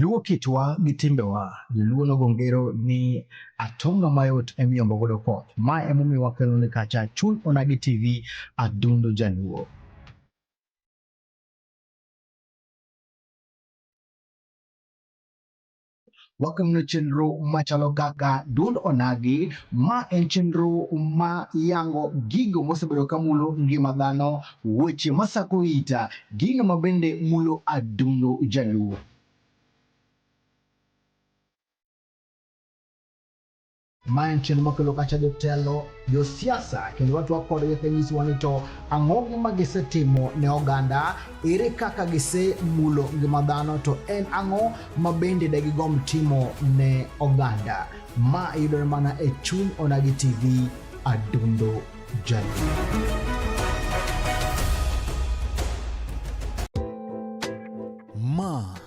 Luwo kitwa gi timbewa. Joluo nogo ngero ni atonga mayot emiyombo godo koth. Ma emomiyo wakelo ni kacha Chul Onagi TV Adundo Jaluo. Wakelonu chenro machalo kaka Dund Onagi, ma en chenro ma yango gigo mosebedo ka mulo ngima dhano, weche masako ita, gino ma bende mulo adundo Jaluo. Ma en chenro makelo kacha jotelo, josiasa kendo watwak kodgi kanyisowa ni to ang'o gima gisetimo ne oganda, ere kaka gisemulo ngima dhano to en ang'o ma bende degigom timo ne oganda. Ma yudore mana e chuny Onagi TV Adundo Jaluo.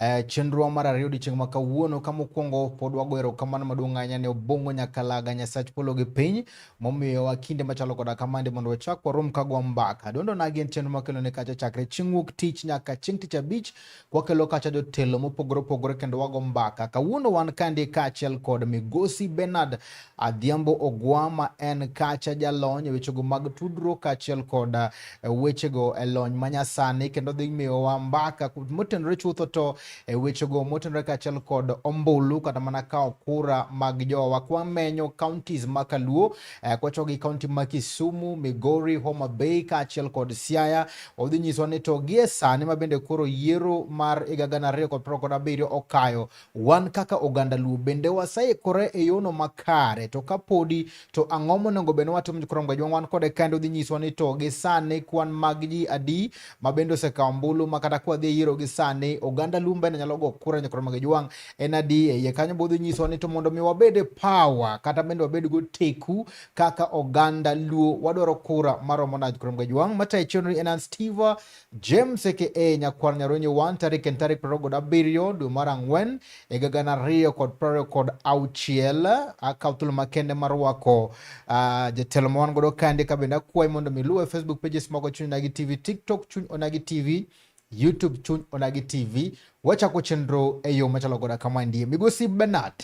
E, chenro mar ariyo odiechieng' ma kawuono ka mokwongo pod wago erokamano maduong' ahinya ne Obong'o Nyakalaga Nyasach polo gi piny momiyowa kinde machalo koda kamande mondo wachak warom ka gwa mbaka. Dondo nagi en chenro makelo ne kacha chakre chieng' wuok tich nyaka chieng' tich abich kwakelo kacha jotelo mopogore opogore kendo wago mbaka. Kawuono wan kandi kaachiel kod Migosi Bernard Adhiambo Ogwa ma en kacha jalony e wechego mag tudruok kaachiel kod e, wechego e lony manyasani kendo dhi miyowa mbaka motenore chutho to e wechego motenore kaachiel kod ombulu kata mana kawo kura mag jowa kwamenyo counties ma Kaluo e, kwacho gi county ma Kisumu, Migori, Homa Bay kaachiel kod Siaya odhi nyiswa ni to gie sani ma bende koro yiero mar higa gana ariyo kod piero kod abiriyo okayo Wan kaka oganda Luo bende waseikore e yono makare to ka podi to ang'o monego bed ni watimo jokrom gajwa wan kode kendo dhi nyiswa ni to gi sani kwan mag ji adi ma bende osekawo ombulu ma kata kwa dhi e yiero gi sani oganda Luo bende nyalo go kura jokrom gajwa en adi e iye kanyo bodhi nyiswa ni to mondo mi wabed e power kata bende wabed go teku kaka oganda Luo wadwaro kura maromo na jokrom gajwa matayo chenro en Steve James aka Nyakwar Nyarwenyo 1 tarik en tarik prariyo kod abiriyo dwe mar ang'wen higa gana ariyo kod prariyo kod auchiel. Akawo thuolo makende mar rwako uh, jatelo ma wan godo kande ka bende akwayi mondo mi luwe Facebook pages mago chuny onagi TV, TikTok chuny onagi TV, YouTube chuny onagi TV. Wachako chenro e yo machalo goda kama ndie. Migosi Bernard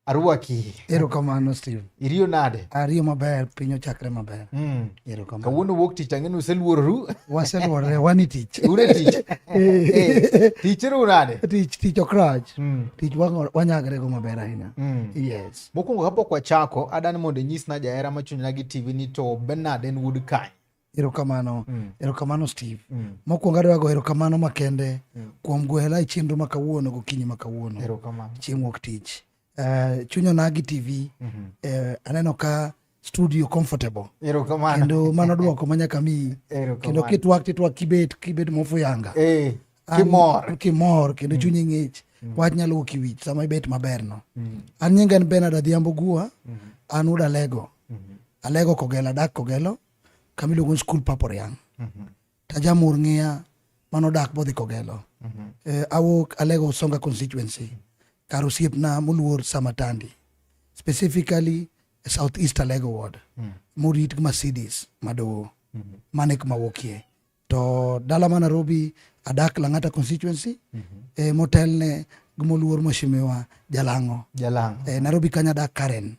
Arwaki. Erokamano Steve. Iriyo nade? Ariyo maber, piny ochakre maber. Mm. Erokamano. Kawuono wuok tich ang'e ni useluororu. Waseluorore, wan e tich. Un e tich. Eh. Eh, tich ru nade? Tich tich ok rach. Mm. Tich wanyagre go maber ahinya. Mm. Yes. Mokwongo kapok wachako, adani mondo inyisna jahera ma chunyna gi TV ni to Bernard en wuod kanye? Erokamano, mm. erokamano Steve. Mm. Mokwongo adwa go erokamano makende mm. kuom gwela e chenro ma kawuono gokinyi ma kawuono. Erokamano. Chieng' wuok tich. Uh, eh, chunya nagi TV. Mm -hmm. uh, eh, aneno ka studio comfortable. Erokamano. Kendo mano dwoko ma nyaka mi. Erokamano. Kendo kitwak titwak kibet kibet mofuyanga. Eh. Hey. Kimor. Kimor kendo mm. chunyi mm. ng'ich. Mm. Wach nyalo wuok iwich sama ibet maber no. Mm. An nyinga en Bernard Adhiambo Gua. Mm. An uda lego. Mm. Alego kogelo adak kogelo. kama iluongo ni skul papo riang mhm. tajamur ng'iya mano dak bodhi kogelo mhm. eh, awuok alego usonga constituency kar osiepna moluor samatandi specifically e south east alego ward mm. morit gi mercedes madowo mhm. mane kuma wuokie to dala ma nairobi adak lang'ata constituency eh, motelne gi moluor mheshimiwa jalang'o eh, nairobi kanyo adak karen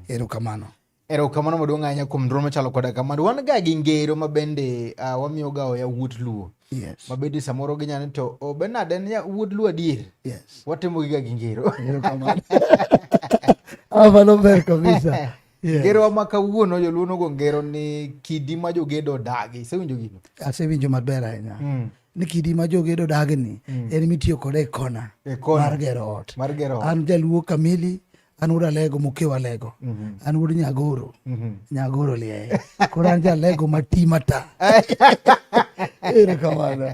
erokamano Erokamano maduong' ahinya kuom dwol machalo koda kamano. Wan ga gi ngero ma bende uh, wamiyoga oya wuod Luo. Yes. Ma bende samoro ginya ni to oh, Bernard en wuod Luo adier. Yes. Watimo giga gi ngero. Erokamano. Amano ber kabisa. Yes. Ngero wa ma kawuono joluo nogo ngero ni kidi ma jogedo odagi. Isewinjo gino? Asewinjo maber ahinya. Mm ni kidi ma jogedo dagni mm. en mitiyo kode e kona e mar gero ot. Mar gero ot. An jaluo kamili an wuod alego mokew alego mhm. an wuod nyagoro mhm. nyagoro liaye koro an jalego mati mata erokamano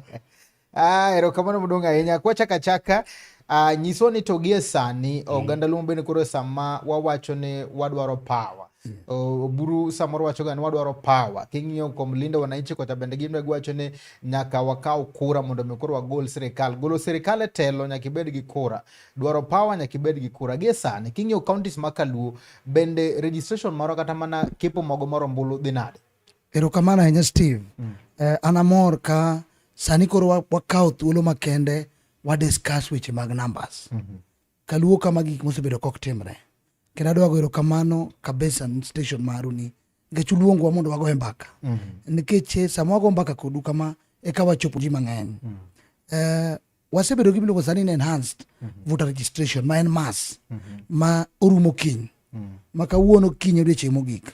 ah, erokamano modong' ahinya kwachaka chaka uh, nyiswa ni to gie sani mm. oganda luo bende koro sama wawacho ni wadwaro pawa mm. oburu samoro wacho ga ni wadwaro pawa king'iyo kuom lindo wananchi kocha bende gin giwacho ni nyaka wakaw kura mondo mi koro wagol sirikal golo sirikal e telo nyaka ibed gi kura dwaro power nyaka ibed gi kura gie sani king'iyo counties ma kaluo bende registration moro kata mana kepo mogo moro mbulu dhi nade erokamano ahinya steve mm. eh, an amor ka sani koro wakawo thuolo makende wadiscuss weche mag numbers mm -hmm. kaluo kama gik mosebedo kok timre kendo adwa goyo erokamano kabisa station maru ni nikech uluongwa mondo wagoye mbaka mm -hmm. nikech eh, sama wago mbaka kodu kama eka wachopo ji mang'eny mm -hmm. eh, wasebedo gima iluongo sani ni enhanced voter registration ma en mas ma orumo kiny ma kawuono kiny odiochieng' mogik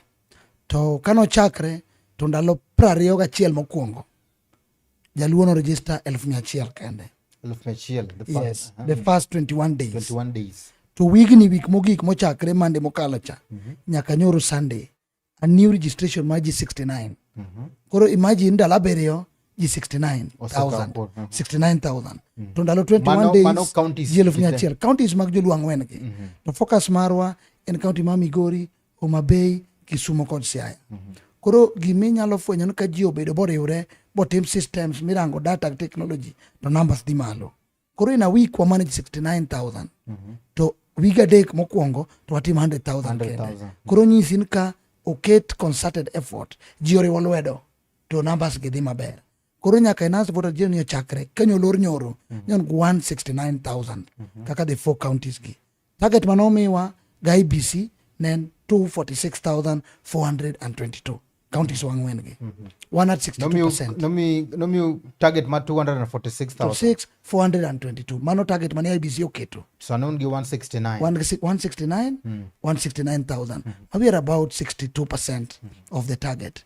to kane ochakre to ndalo prariyo gachiel mokwongo jaluo no register elf mia achiel kende Elfu mia achiel, the first- yes aha, the first 21 days 21 days. to wigni wik mogik mochakre mande mokalo cha nyaka nyoro sunday a new registration mar ji 69 mhm. koro imagine ndalo abiriyo ji 69000 mhm. mm. to ndalo 21 days ji elfu mia achiel counties mag joluang' wengi mm -hmm. to focus marwa en county ma migori homa bay kisumo kod siaya mm -hmm. koro giminyalo fwenyo ni ka ji obedo boriwre botim systems mirango data technology to numbers dhi malo koro in a week wa manage 69000 mm -hmm. to wige adek mokwongo to watim 100000 kende koro nyisi ni ka oket concerted effort ji oriwo lwedo to numbers gi dhi maber koro nyaka enas voter jiro ni ochakre kenya olor nyoro mm -hmm. nyon 169000 mm -hmm. kaka the four counties gi Target mane omiwa ga IBC ne en 246,422 counties wang'wen gi. Mm -hmm. One at 62%. Nomi, nomi target ma 246,422. Mano target mane IBC oketo. So noon gi 169. 169, mm. 169,000. Mm -hmm. We are about 62% mm -hmm. of the target.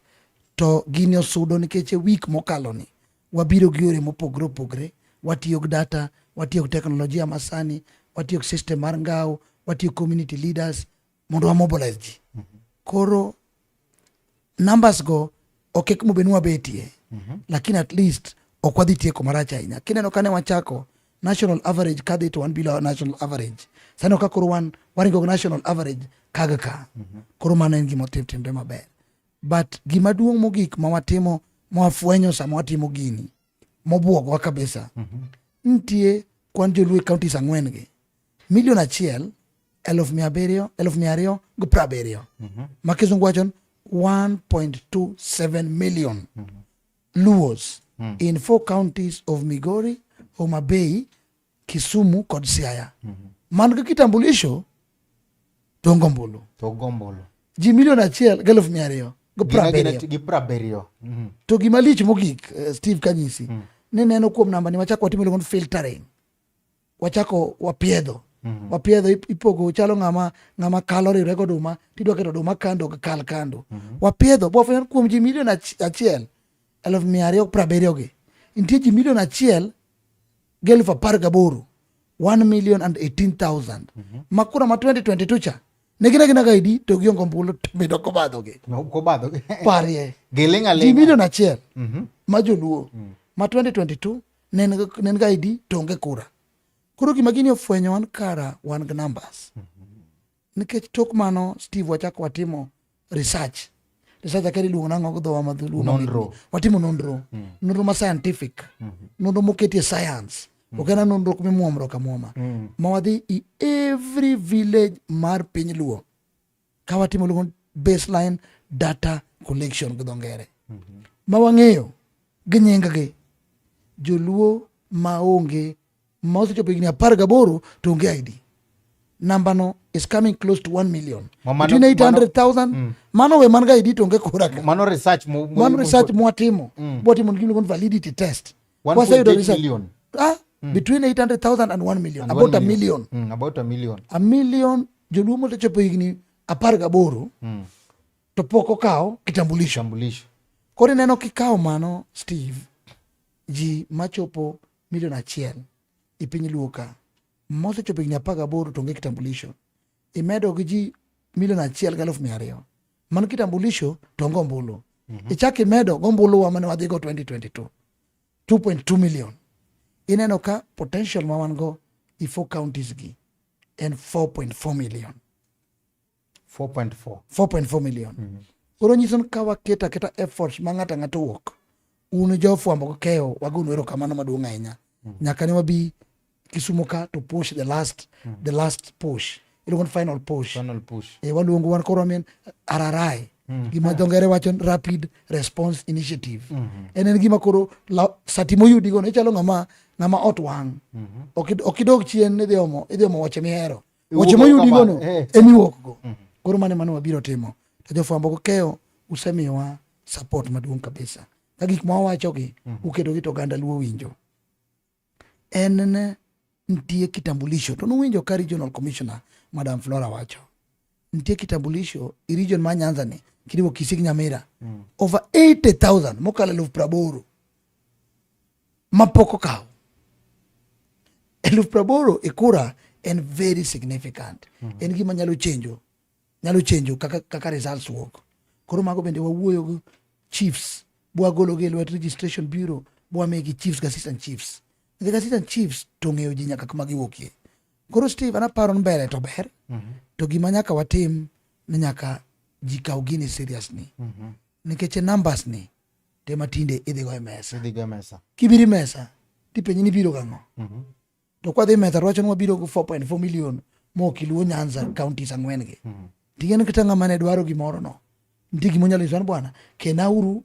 To gini osudo nikech e week mokalo ni. Wabiro gi yore mopogre opogre, watiyo gi data, watiyo gi teknolojia masani, watiyo gi system mar ngao, watiyo gi community leaders mondo wa mobilize ji. Koro numbers go ok ek mobe nwa betie, mm -hmm. lakini at least ok wadhi tieko marach ahinya. Kineno kane wachako national average kadhi to wan below national average. Sani ka koro wan waringo national average kaga ka. Mm -hmm. Koro mano en gima otim timre maber. but gima duong' mogik ma watimo ma wafwenyo sama watimo gini mobwogwa kabisa mm -hmm. nitie kwan joluo e counties ang'wen gi milion achiel eluf mia abiriyo eluf mia ariyo gi piero abiriyo mm -hmm. ma kisungu wachon 1.27 million mm -hmm. luos mm -hmm. in four counties of migori homa bay Kisumu kod Siaya mm -hmm. man gi kitambulisho to ngombulu to gombulu ji milion achiel gi eluf mia ariyo gi Gima gin prabiriyo ati- gi prabiriyo Mhm. to gima lich mogik eh, steve kanyisi ni neno kuom nambani wachako watimo iluongo ni filtering wachako wapiedho wapiedho ip- ipogo chalo ng'ama ng'ama kalo riwre gi oduma tidwa keto oduma kando ok kal kando wapiedho bwafwenyo ni kuom ji milion achi- achiel eluf mia ariyo gi prabiriyogi nitie ji milion achiel gelf apar gaboro 1 million and 18000 mhm. ma kura ma 2022 cha ne gina gina ga idi to giongo ombulu medo kobadhogi kobadhogi parie giling aling ji milion achiel mhm. ma joluo mm. ma 2022 ne en ga idi to onge kura koro gima gini ofwenyo wan kara wan gi numbers mhm. Nikech tok mano Steve wachako watimo research. Research akeri luongo nang'o go dhowa ma dhuluo. Nonro. Watimo nonro. Mm. Nonro ma scientific. Mm -hmm. Nonro moketie science. Mm. Ok en nonro kuma imuomro ka muoma. Mm. Ma wadhi i every village mar piny luo. Ka watimo luongo baseline data collection gi dho ngere. Mm -hmm. Ma wang'eyo gi nying gi. Joluo ma onge ma osechopo higni apar gaboro to onge ID namba no is coming close to 1 million between 800,000 mm. mano we man ga ID to onge kura ka mano research mo mano research mo atimo mm. bo timo gimlo kon validity test kwa sayudo research million. ah mm. between 800,000 and 1 million and about 1 million. a million mm, about a million a million joluo mosechopo higni apar gaboro mm. to pok okawo kitambulisho koro ineno kikawo mano steve ji machopo milion achiel e piny luo ka mosechopo higni apar gaboro to onge kitambulisho imedo gi ji milion achiel gi alufu mia ariyo man kitambulisho to onge ombulu mm -hmm. ichak imedo gombulu wa mane wadhigo 2022 2.2 million ineno ka potential ma wan go i four counties gi en 4.4 million 4.4 4.4 million mm -hmm. koro nyiso ni ka waketo aketa efforts ma ng'ato ang'ato wuok un jofwambo gi keyo wagonu erokamano maduong' ahinya mm -hmm. nyaka ne wabi Kisumu ka to push the last mm -hmm. the last push iluongo ni final push final push e waluongo wan koro amen ararai Mm. gima dho ngere wacho rapid response initiative mm -hmm. en en gima koro sati moyudigo ne chalo ng'ama ng'ama ot wang' mm -hmm. ok idog chien idhi omo idhi omo wache mihero weche moyudigono eh. ema iwuokgo mhm. koro mane mane wabiro timo to jofwambo kokeyo usemiyowa support maduong' kabisa ka gik ma wawachogi mhm. uketogi to oganda luo winjo en ne nitie kitambulisho to nuwinjo ka regional commissioner madam flora wacho nitie kitambulisho i region ma nyanza ni kiriwo kisik nyamira mm. over 80000 mokalo eluf praboro ma pok okaw eluf praboro e kura en very significant mm -hmm. en gima nyalo chenjo nyalo chenjo kaka, kaka results wuok koro mago bende wawuoyo gi chiefs bwagologi e lwet registration bureau bwamigi chiefs gi assistant chiefs nikech assistant chiefs to ng'eyo ji nyaka kuma giwuokie koro steve an aparo ni mbele to ber mm -hmm. to gima nyaka watim ni nyaka ji kaw gini seriously mm -hmm. nikech e numbers ni te matinde idhi go e mesa idhi go e mesa kibiri mesa tipenyi ni biro gang'o mm -hmm. to kwa dhi mesa rwacho ni wabiro go 4.4 million mo kiluo nyanza counties ang'wen gi mm -hmm. ting'en kata ng'ama ne dwaro gimoro no nitie gima onyalo nyiso ni bwana kenauru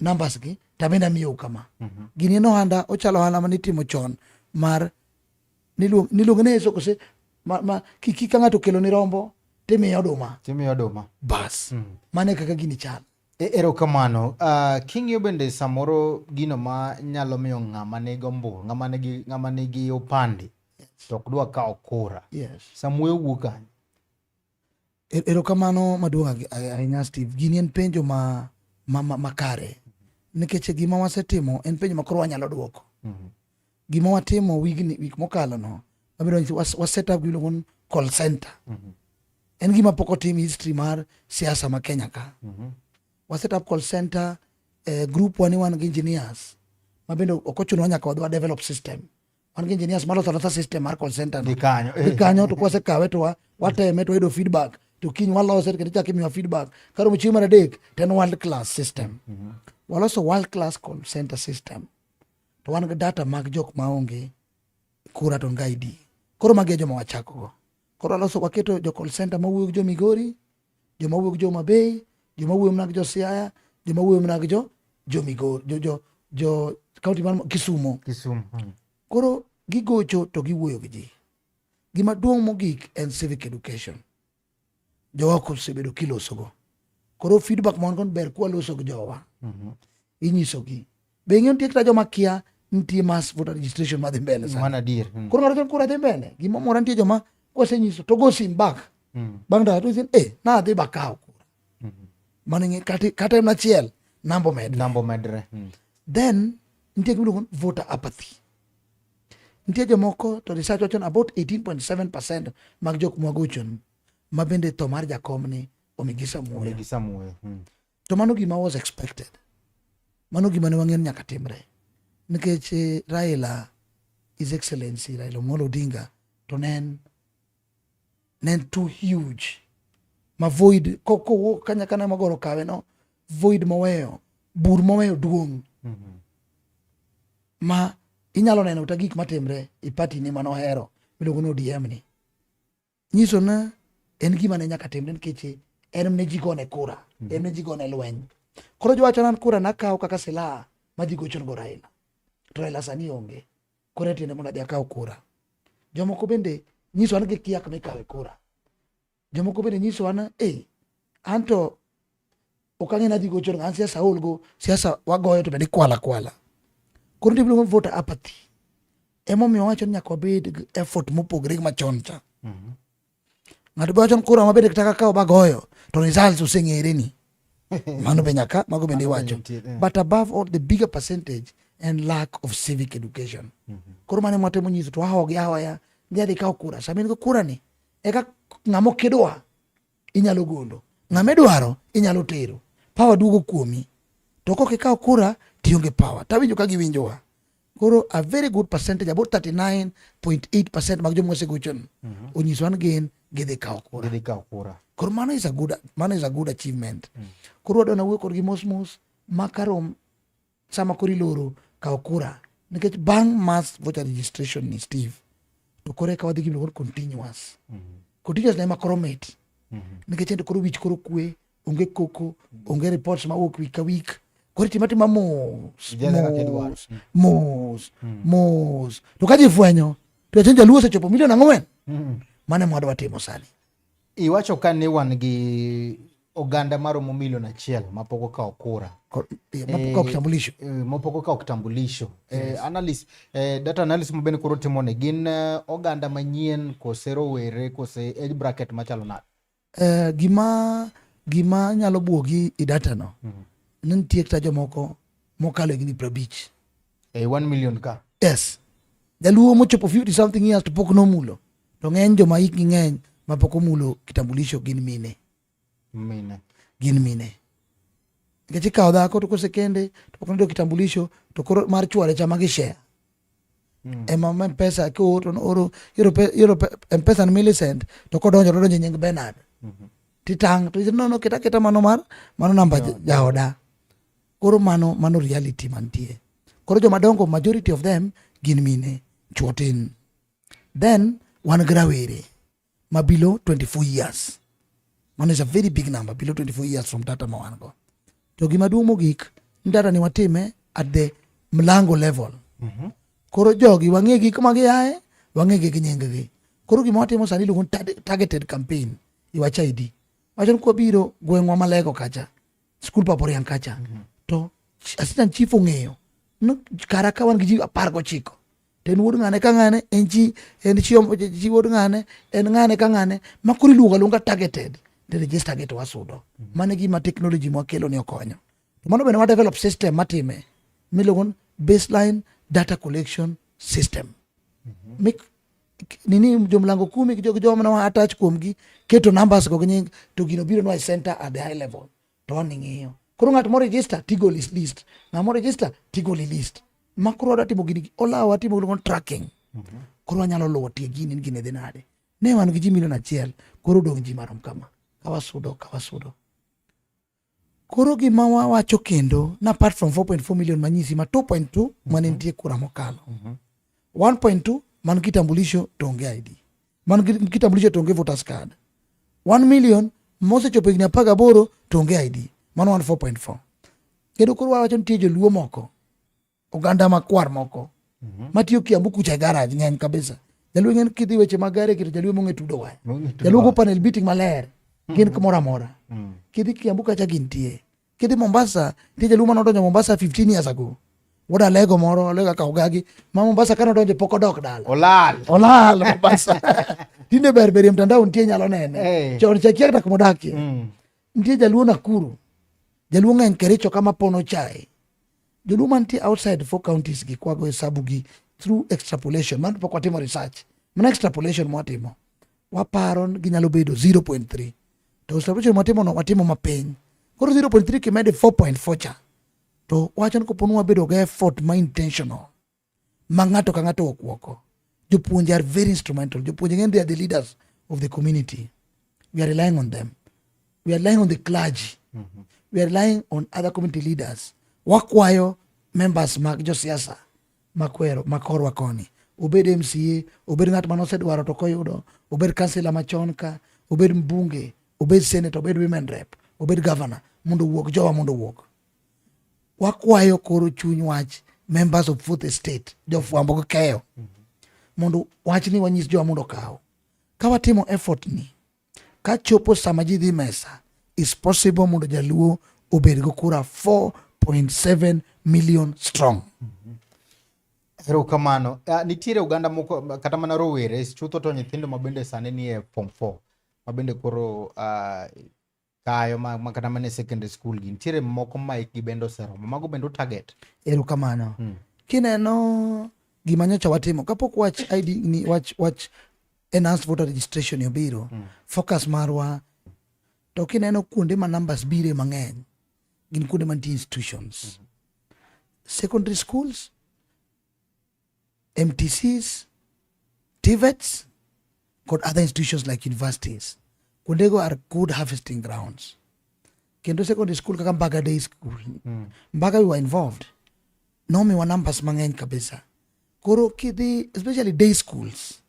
numbers gi tabende amiyou kama mm -hmm. gini en ohanda ochalo ohanda ma nitimo chon mar niluonge ne yeso kose ma, ma kika ng'ato okelo ni rombo timiye oduma timiye oduma bas mm. mane kaka gini chal E, erokamano. Uh, king'iyo bende samoro gino ma nyalo miyo ng'ama nigi ombulu, ng'ama nigi, ng'ama nigi opande yes. to ok dwa kawo kura. Yes. Samuoyo wuok kanye? E, erokamano maduong' ahinya Steve. Gini en penjo ma, ma, ma, ma kare nikech gima wasetimo en penjo ma koro wanyalo dwoko. Mm -hmm. gima watimo wigni wik mokalo no wabiro nyiso was- waset up gimiluongo ni call center en gima pok otim history mar siasa ma kenya ka waset up call center eh, group wani wan gi engineers ma bende ok ochunowa nyaka wadwa develop system wan gi engineers maloso alosa system mar call center no. Ni kanyo. Ni kanyo to kwasekawe to wa- wateme to wayudo feedback to kiny walose kendo chak imiwa feedback karomo chieng' mar adek to en world class system waloso world class call center system to wan gi data mag jok ma onge kura to nga ID. Koro magi e joma wachako go. Koro aloso waketo jo call center ma wuok jo Migori, joma wuok jo Mabei, joma wuok mana jo Siaya, joma wuok mana jo jo Migori, jo jo jo county man Kisumo. Kisumo. Hmm. Koro gigocho to giwuoyo gi ji. Gima duong' mogik en civic education. jowa kosebedo kilosogo koro feedback mon kon ber kwa loso gi jowa mhm. inyiso gi be ng'e nitie kata joma kia nitie mass voter registration madhi mbele sa mana dir hmm. koro ng'ato kura dhi mbele gima mora nitie joma kwase nyiso to go sim back hmm. bang da to sin eh na dhi bakaw kura hmm. mane ng'e kata kata na chiel nambo med nambo medre then nitie gima voter apathy Nitie jomoko to research wacho about 18.7% mag jok mwagochon ma bende tho mar jakom ni omigi samuoyo. Hmm. To mano gima was expected. Mano gima ne wang'eyo nyaka timre. Nikech eh, Raila His Excellency Raila Amolo Odinga to ne en ne en too huge ma void kowuok kanyakana magoro kawe no void moweyo bur moweyo duong' mm -hmm. ma inyalo neno ta gik matimre e pati ni mano hero miluongo ni ODM ni nyiso na en gima ne nyaka timre nikech en ne ji gone kura mm -hmm. en ne ji gone lweny koro jowacho nan kura nakawo kaka silaha ma ji gochon go Raila to Raila sani onge koro etiende mondo adhi akaw kura. Jomoko bende nyiso an gi kiak mikawe kura. Jomoko bende nyiso an eh, an to ok ang'e nadhi gocho an siasa aol go siasa wagoyo to bende ikwala kwala. Koro nitie gima voter apathy. Emomiyo wacho ni nyaka wabed gi effort mopogore gi machon cha. ng'ato be wacho ni kura ma bende kata kaka obagoyo to results oseng'ere ni mano be nyaka mago bende iwacho but above all the bigger percentage and lack of civic education mhm. koro mane mwatemo nyiso to ahogi ahoya ndi adhi kawo kura sama in go kura ni eka ng'ama okidwa inyalo gondo ng'ama idwaro inyalo tero pawa duogo kuomi to kok ikawo kura tionge pawa tawinjo ka giwinjowa Koro a very good percentage about 39.8% mag joma osegocho ni mhm. onyiso an gin gidhi kawo kura. Gidhi kawo kura. Koro mano is a good mano is a good achievement. Mm. Koro wadwa nawuoyo kodgi mos mos ma karom sama koro iloro kawo kura nikech bang' mass voter registration ni Steve to koro eka wadhi gi luor continuous. Mm -hmm. Continuous na ema koro mit. Mm -hmm. Nikech ento koro wich koro kwe onge koko onge reports mawuok week ka week koro itima tima mos Ijaza kaka idwaro. mos mos mos to ka ji fwenyo to jachien jaluo osechopo milion ang'wen mane mwadwa timo sani iwacho ka ni wan gi oganda maromo milion achiel mapok okawo kura Ko- eh, mapok ok tambulisho eh, mapok okawo kitambulisho eh, analyst, eh, data analysis ma bende koro timoni gin eh, oganda manyien kose rowere kose age bracket machalo nade Eh, gima gima nyalo buogi i datano mm. ni nitie kata jomoko mokalo higni prabich e eh, one million ka yes jaluo mochopo fifty something years to pok nomulo to ng'eny joma hikgi ng'eny ma pok omulo kitambulisho gin mine mine gin mine nikech ikawo dhako to kosekende to pok nodo kitambulisho to koro mar chware chama gi share Mm. ema ma mpesa kioro oro iro mpesa ni milicent to kodonjo to donjo nying benard mm -hmm. titang to no no kita kita mano mar mano namba yeah. jaoda koro mano mano reality mantie koro joma dongo majority of them gin mine chuotin then wan gi rawere ma below 24 years mano is a very big number below 24 years from data ma wan go to gima duong' mogik ni data ni watime at the mlango level mm -hmm. koro jogi wang'e gi kuma giaye wang'e gi nyinggi koro gima watimo sani iluongo targeted campaign iwacha idi wacho ni kwabiro gweng'wa malego kacha skul paporian kacha mm -hmm. to assistant chief ong'eyo no, kara ka wan gi ji apar gochiko to en wuod ng'ane ka ng'ane en chi en chi chi wuod ng'ane en ng'ane ka ng'ane ma koro iluongo aluonga targeted to register gi to wasudo mm-hmm. mano gima technology mwakelo ni okonyo to mano bende wadevelop system matime miluongo baseline data collection system mm-hmm. mik nini jomlango kumi gi joma nawa attach kuomgi keto numbers go gi nying to gino biro nwa e center at the high level to wan ing'iyo. Koro ng'at mo register tigol is list. Ng'at mo register tigol is list. Ma koro wadwa timo gini olawa watimo gini kon tracking. Mm -hmm. Koro wanyalo luwo tie gini ni gini dhi nade. Ne wan gi ji milion achiel koro dong' ji marom kama. Kawasudo kawasudo. Koro gima wawacho kendo na apart from 4.4 million manyisi ma 2.2 mm -hmm. mane nitie kura mokalo. Mm -hmm. 1.2 man kitambulisho to onge ID. man gi kitambulisho to onge voters card 1 million mosechopo higni apar gaboro to onge ID mano wan 4.4 kendo koro wawacho nitie joluo moko oganda makwar moko mm -hmm. matiyo Kiambu kucha e garage ng'eny kabisa jaluo ng'en kidhi weche mag gare kito jaluo mong'e tudo waya jaluo go panel beating maler mm -hmm. gin kumoro amora mm -hmm. kidhi Kiambu kacha gintie kiti Mombasa ti jaluma no donjo Mombasa 15 years ago wuod alego moro alego akaw gagi ma Mombasa kano donjo pok odok dala olal olal Mombasa tinde ber ber mtandao nitie nyalo nene hey. chon chakia tak modakie mm. nitie jaluo Nakuru jaluo ng'eny Kericho kama pono chai jaluo mantie outside four counties gi kwago hesabu gi through extrapolation man pok watimo research mana extrapolation mwatimo waparo ni ginyalo bedo 0.3 to observation watimono watimo mapiny koro 0.3 kimede 4.4 cha to wacho ni koponi wabedo gi effort ma intentional ma ng'ato ka ng'ato okwoko jopuonje are very instrumental jopuonje ng'eny they are the leaders of the community we are relying on them we are relying on the clergy mm -hmm. we are relying on other community leaders wakwayo members mag josiasa makwero makorwa koni obed mca obed ng'at mane osedwaro to koyudo obed kansila machon ka obed mbunge obed senate obed women rep obed governor mondo owuog jowa mondo owuog wakwayo koro chuny wach members of fourth estate jofwambo gi keyo mondo wachni wanyis jowa mondo okaw ka watimo effort ni Ka chopo sama ji dhi mesa, is possible mondo jaluo obed go kura 4.7 million strong. Erokamano. Uh, nitiere oganda moko kata mana rowere chutho to nyithindo mabende sani nie form 4 mabende koro uh, kayo ma, ma kata mana e secondary school gi nitiere moko ma ikgi bende oseromo mago bende utarget erokamano mm. kineno gima nyocha watimo kapok wach id ni wach wach enhanced voter registration obiro mm. focus marwa to kineno kuonde ma numbers bire mang'eny gin kuonde mantie institutions mm -hmm. secondary schools MTCs, TVETs, kod other institutions like universities. Kuondego are good harvesting grounds. Kendo secondary school kaka Mbaga Day School, mm. Mbaga we were involved. Nomiwa numbers mang'eny kabisa. Koro kidhi, especially day schools,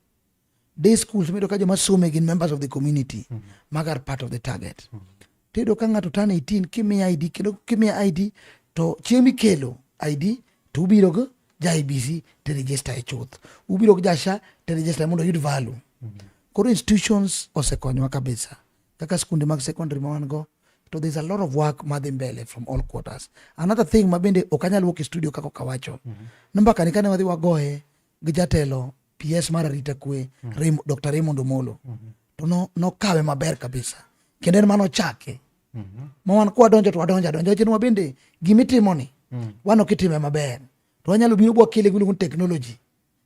day schools medo ka joma some gin members of the community mm -hmm. maga are part of the target mm -hmm. tiyudo ka ng'ato tan 18 kimiya id kendo kimiya id to chieng' mikelo id to ubiro go ja ibc to register e chuth ubiro go ja sha to register mondo oyud value mm -hmm. koro institutions osekonyowa kabisa kaka skunde mag secondary ma wan go to there's a lot of work madhi mbele from all quarters another thing mabende ok anyal wuok e studio kaka okawacho mm -hmm. namba kani kane wadhi wagoye gi jatelo PS mar arita kwe mm. Dr. Raymond Omolo mm -hmm. to no, nokawe maber kabisa kendo en mano chake mm -hmm. ma wan kwadonjo to wadonjo adonjo wacheni wabende gimitimoni mm. wan ok itime maber to wanyalo biro bwakele gimiluongo ni technology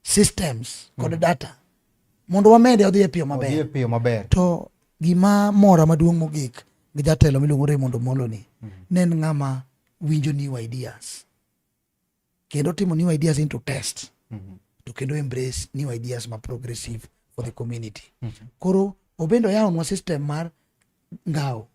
systems kod mm. data mondo wamede odhi e piyo maber, piyo maber. to gima mora maduong' mogik gi jatelo miluongo Raymond Omolo ni mm. ne en ng'ama winjo new ideas kendo timo new ideas into test mm -hmm. to kendo embrace new ideas ma progressive for the community mm -hmm. koro obende oyawonwa system mar ngawo